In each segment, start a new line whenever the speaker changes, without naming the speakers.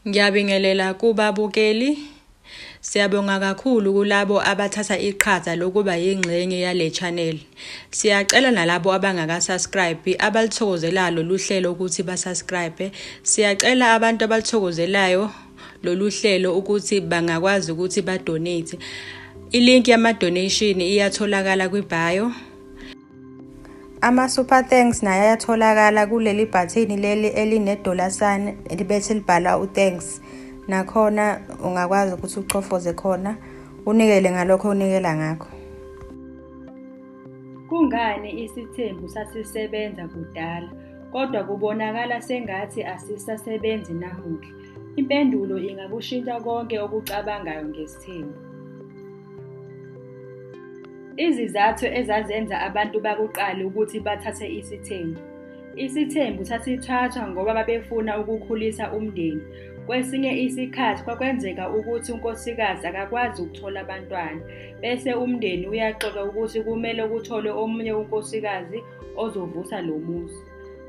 Ngiyabingelela kubabukeli. Siyabonga kakhulu kulabo abathatha iqhaza lokuba yingxenye yale channel. Siyacela nalabo abangakasubscribe abalithokozelayo lolu hlelo ukuthi basubscribe. Siyacela abantu abalithokozelayo lolu hlelo ukuthi bangakwazi ukuthi badonate. Ilink yama-donation iyatholakala kwi-bio. Ama-super thanks naye ayatholakala kuleli bhathini leli elinedollar sign libethi libhala u-thanks nakhona ungakwazi ukuthi uchofoze khona unikele ngalokho unikela ngakho
kungani isithembu sasisebenza kudala kodwa kubonakala sengathi asisasebenzi namuhla impendulo ingakushintsha konke okucabangayo ngokwesithembu. Izizathu ezazenza abantu bakuqala ukuthi bathathe isithembu. Isithembu sasithathwa ngoba babefuna ukukhulisa umndeni. Kwesinye isikhathi kwakwenzeka ukuthi unkosikazi akakwazi ukuthola abantwana, bese umndeni uyaxoxa ukuthi kumele kutholwe omunye unkosikazi ozovusa lo muzi.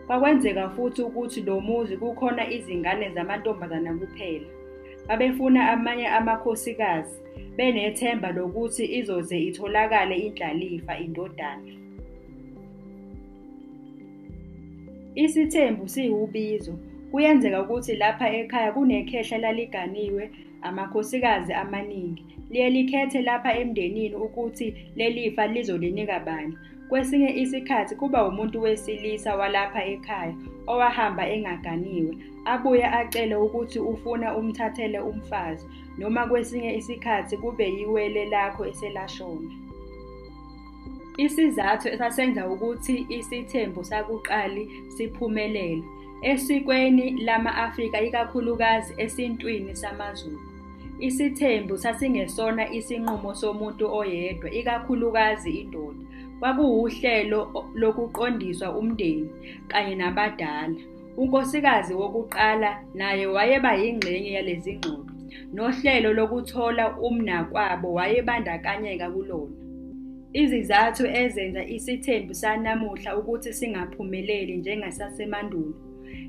Kwakwenzeka futhi ukuthi lo muzi kukhona izingane zamantombazana kuphela. Babefuna amanye amakhosikazi benethemba lokuthi izoze itholakale indlalifa indodana. Isithembu siwubizo. Kuyenzeka ukuthi lapha ekhaya kunekhehla laliganiwe amakhosikazi amaningi. Liye likhethe lapha emndenini ukuthi lelifa lizolinika bani. Kwesinye isikhathi kuba umuntu wesilisa walapha ekhaya owahamba engaganiwe, abuye acele ukuthi ufuna umthathele umfazi, noma kwesinye isikhathi kube yiwele lakho eselashona. Isizathu esasenza ukuthi isithembu sakuqali siphumelele esikweni lama-Afrika ikakhulukazi esintwini samaZulu. Isithembu sasingesona isinqumo somuntu oyedwa, ikakhulukazi indoda. Kwakuwuhlelo lokuqondiswa umndeni kanye nabadala. Unkosikazi wokuqala naye wayeba yingxenye yalezi ngxoxo, nohlelo lokuthola umnakwabo wayebandakanyeka kulona. Izizathu ezenza isithembu sanamuhla ukuthi singaphumeleli njengesasemandulo.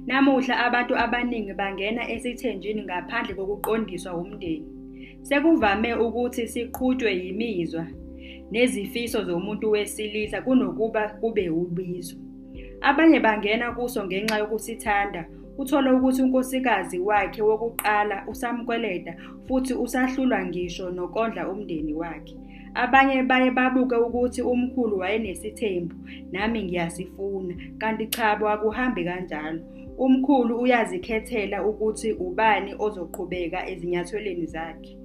Namuhla abantu abaningi bangena esithenjini ngaphandle kokuqondiswa wumndeni. Sekuvame ukuthi siqhutshwe yimizwa nezifiso zomuntu wesilisa kunokuba kube ubizo. Abanye bangena kuso ngenxa yokusithanda, uthole ukuthi unkosikazi wakhe wokuqala usamkweleta futhi usahlulwa ngisho nokondla umndeni wakhe. Abanye baye babuke ukuthi umkhulu wayenesithembu nami ngiyasifuna kanti cha kwakuhambi kanjalo. Umkhulu uyazikhethela ukuthi ubani ozoqhubeka ezinyathelweni zakhe.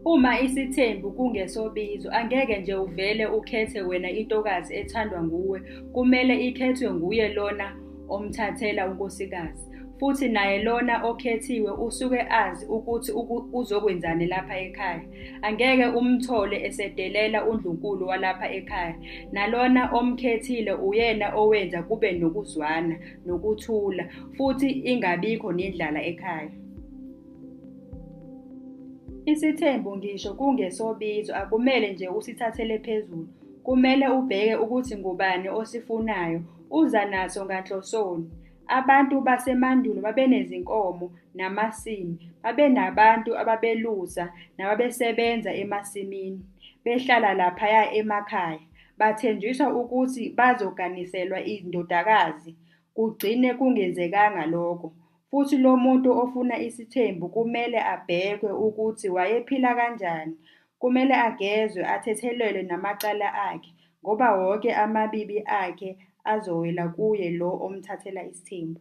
Uma isithembu kungesobizo angeke nje uvele ukhethe wena intokazi ethandwa nguwe, kumele ikhethwe nguye lona omthathela unkosikazi. futhi naye lona okhethiwe usuke azi ukuthi uzokwenzani lapha ekhaya. Angeke umthole esedelela uNdlunkulu walapha ekhaya. Nalona omkhethile uyena owenza kube nokuzwana, nokuthula, futhi ingabikho nendlala ekhaya. Isithembu ngisho kungesobizo akumele nje usithathele phezulu. Kumele ubheke ukuthi ngubani osifunayo, uza naso nganhlosoni. Abantu basemandulo babenezinkomo namasimi, babenabantu ababelusa nababesebenza emasimini, behlala laphaya emakhaya, bathenjiswa ukuthi bazoganiselwa indodakazi, kugcine kungenzekanga lokho, futhi lo muntu ofuna isithembu kumele abhekwe ukuthi wayephila kanjani, kumele agezwe athethelelwe namacala akhe, ngoba wonke amabibi akhe Azowela kuye lo omthathela isithembu.